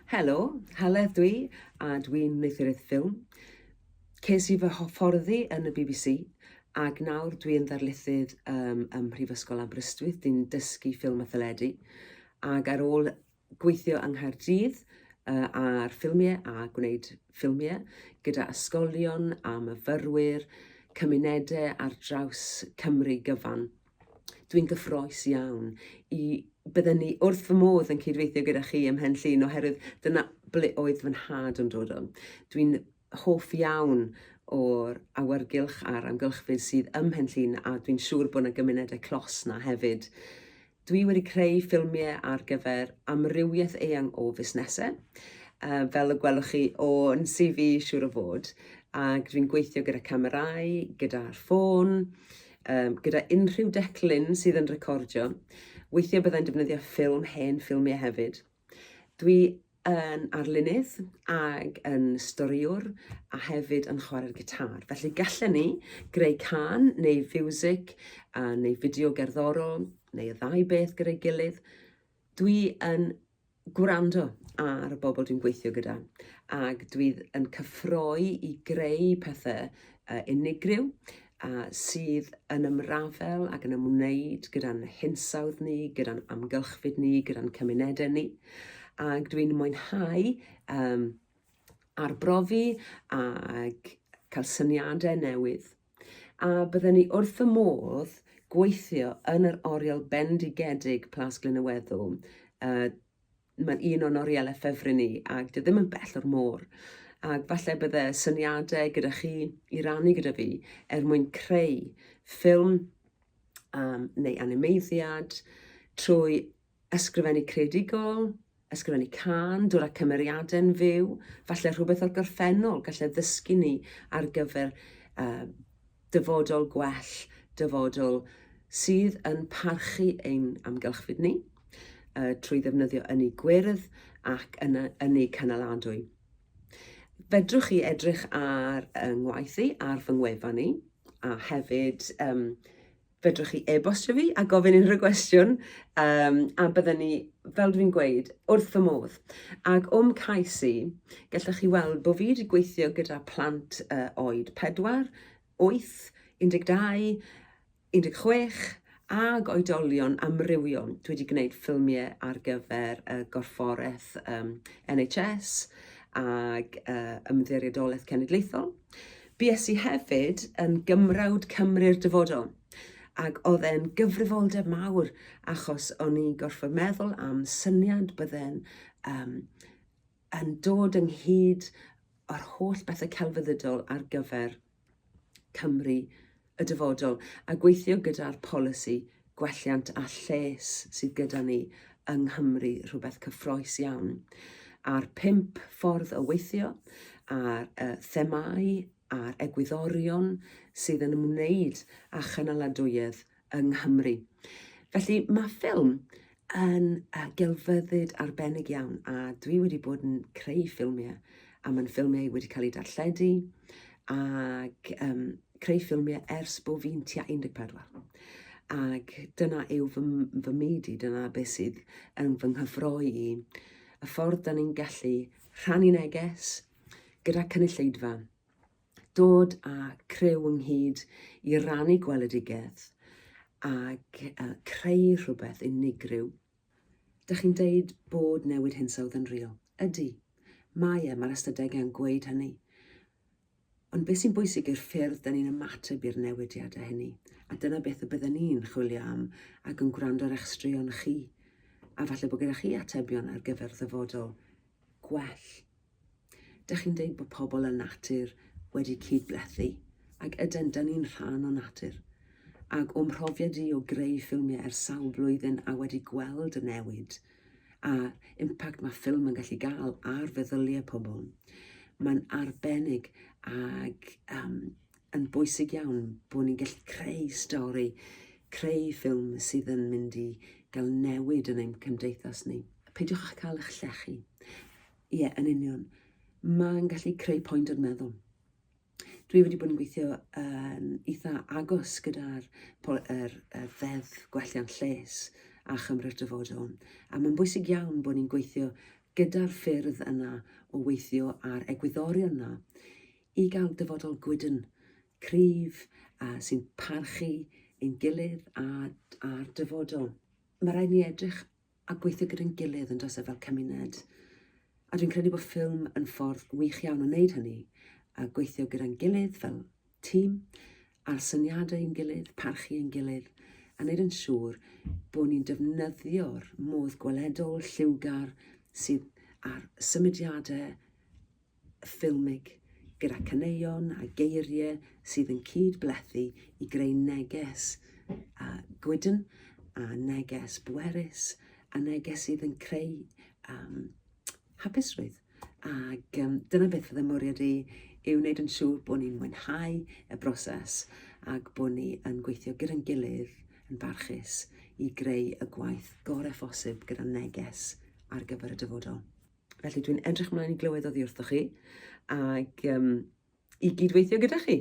Helo, Heledd dwi, a dwi'n wneuthuriaeth ffilm. Ces i fy hyfforddi yn y bbc ac nawr dwi'n ddarlithydd um, ym Mhrifysgol Aberystwyth. Dwi'n dysgu ffilm a theledu ac ar ôl gweithio yng Nghaerdydd uh, ar ffilmiau a gwneud ffilmiau gyda ysgolion a myfyrwyr, cymunedau ar draws Cymru gyfan. Dwi'n gyffroes iawn i bydden ni wrth fy modd yn cydweithio gyda chi ym Mhen Llŷn oherwydd dyna ble oedd fy nhad yn dod o. Dwi'n hoff iawn o'r awyrgylch a'r amgylchfyd sydd ym Mhen Llŷn a dwi'n siŵr bod yna gymunedau clos 'na hefyd. Dwi wedi creu ffilmiau ar gyfer amrywiaeth eang o fusnesau, uh, fel y gwelwch chi o'n CV siŵr o fod, ac dwi'n gweithio gyda camerau, gyda'r ffôn, um, gyda unrhyw declyn sydd yn recordio. Weithiau byddai'n defnyddio ffilm hen ffilmiau hefyd. Dwi yn arlunydd ag yn storiwr a hefyd yn chwarae'r gitar. Felly gallen ni greu can neu fiwsig a neu fideo gerddorol neu y ddau beth gyda'i gilydd. Dwi yn gwrando ar y bobl dwi'n gweithio gyda ac dwi yn cyffroi i greu pethau uh, unigryw a sydd yn ymrafel ac yn ymwneud gyda'n hinsawdd ni, gyda'n amgylchfyd ni, gyda'n cymunedau ni. Ac dwi'n mwynhau um, arbrofi ac cael syniadau newydd. A bydden ni wrth fy modd gweithio yn yr oriel bendigedig Plas Glyn y Weddw. Uh, Mae'n un o'n orielau ffefryn ni, ac dwi ddim yn bell o'r môr. Ac falle bydde syniadau gyda chi i rannu gyda fi er mwyn creu ffilm um, neu animeiddiad trwy Ysgrifennu creadigol, ysgrifennu cân, dod â cymeriadau'n fyw, falle rhywbeth o'r gorffennol gallai ddysgu ni ar gyfer uh, dyfodol gwell, dyfodol sydd yn parchu ein amgylchfyd ni uh, trwy ddefnyddio ynni gwyrdd ac yna ynni canaladwy. Fedrwch chi edrych ar yng ngwaith i, ar fy ngwefan i, a hefyd um, fedrwch chi e-bostio fi a gofyn unrhyw gwestiwn, um, a byddwn ni, fel dwi'n gweud, wrth fy modd. Ac o'm cais i, gallwch chi weld bod fi wedi gweithio gyda plant uh, oed 4, 8, 12, 16, ag oedolion amrywiol. Dwi wedi gwneud ffilmiau ar gyfer y gorfforaeth um, NHS ag uh, ymddiriedolaeth cenedlaethol. Bues i hefyd yn Gymrawd Cymru'r Dyfodol, ac oedd e'n gyfrifoldeb mawr achos o'n i'n gorfod meddwl am syniad bydde'n um, yn dod ynghyd o'r holl bethau celfyddydol ar gyfer Cymru y dyfodol a gweithio gyda'r polisi gwelliant a lles sydd gyda ni yng Nghymru, rhywbeth cyffroes iawn, a'r pump ffordd o weithio, a'r uh, themau a'r egwyddorion sydd yn ymwneud â chynaladwyedd yng Nghymru. Felly mae ffilm yn uh, gelfyddyd arbennig iawn a dwi wedi bod yn creu ffilmiau a mae'n ffilmiau wedi cael eu darlledu ac um, creu ffilmiau ers bod fi'n tua 14. Ac dyna yw fy, fy myd i, dyna beth sydd yn fy nghyffroi i. Y ffordd da ni'n gallu rhannu neges gyda cynulleidfa dod â criw ynghyd i rannu gweledigaeth ac creu rhywbeth unigryw. Dych chi'n deud bod newid hinsawdd yn real. Ydy, mae e, mae'r ystadegau yn gweud hynny. Ond beth sy'n bwysig yw'r ffyrdd dyn ni'n ymateb i'r newidiadau hynny, a dyna beth y bydden ni'n chwilio am ac yn gwrando ar eich straeon chi, a falle bod gyda chi atebion ar gyfer ddyfodol gwell. Dych chi'n deud bod pobl a natur wedi cyd-blethu, ac yden, dyn ni'n rhan o natur. Ac o'm mhrofiad i o greu ffilmiau ers sawl blwyddyn a wedi gweld y newid a'r impact mae ffilm yn gallu gael ar feddyliau pobl, mae'n arbennig ac um, yn bwysig iawn bod ni'n gallu creu stori, creu ffilm sydd yn mynd i gael newid yn ein cymdeithas ni. Peidiwch â cael eich llechu. Ie, yn union. Mae'n gallu creu pwynt o'r meddwl. Dwi wedi bod yn gweithio yn eitha agos gyda'r er, er ddeddf gwelliant lles a chymryd dyfodol. A mae'n bwysig iawn bod ni'n gweithio gyda'r ffyrdd yna o weithio a'r egwyddorion yna i gael dyfodol gwydn, cryf, a sy'n parchu ein gilydd a'r, a'r dyfodol. Mae rhaid ni edrych a gweithio gyda'n gilydd yn does e fel cymuned. A dwi'n credu bod ffilm yn ffordd wych iawn o wneud hynny, a gweithio gyda'n gilydd fel tîm, a'r syniadau yn gilydd, parchu yn gilydd, a wneud yn siŵr bod ni'n defnyddio'r modd gweledol, lliwgar sydd a'r symudiadau ffilmig, gyda caneuon a geiriau sydd yn cyd-blethu i greu neges a gwydn, a neges bwerus, a neges sydd yn creu um, hapusrwydd. Ac um, dyna beth fydde mwriad i yw wneud yn siŵr bod ni'n mwynhau y broses ac bod ni yn gweithio gyda'n gilydd yn barchus i greu y gwaith gorau phosib gyda neges ar gyfer y dyfodol. Felly dwi'n edrych ymlaen i glywed oddi wrthoch chi ac um, i gydweithio gyda chi.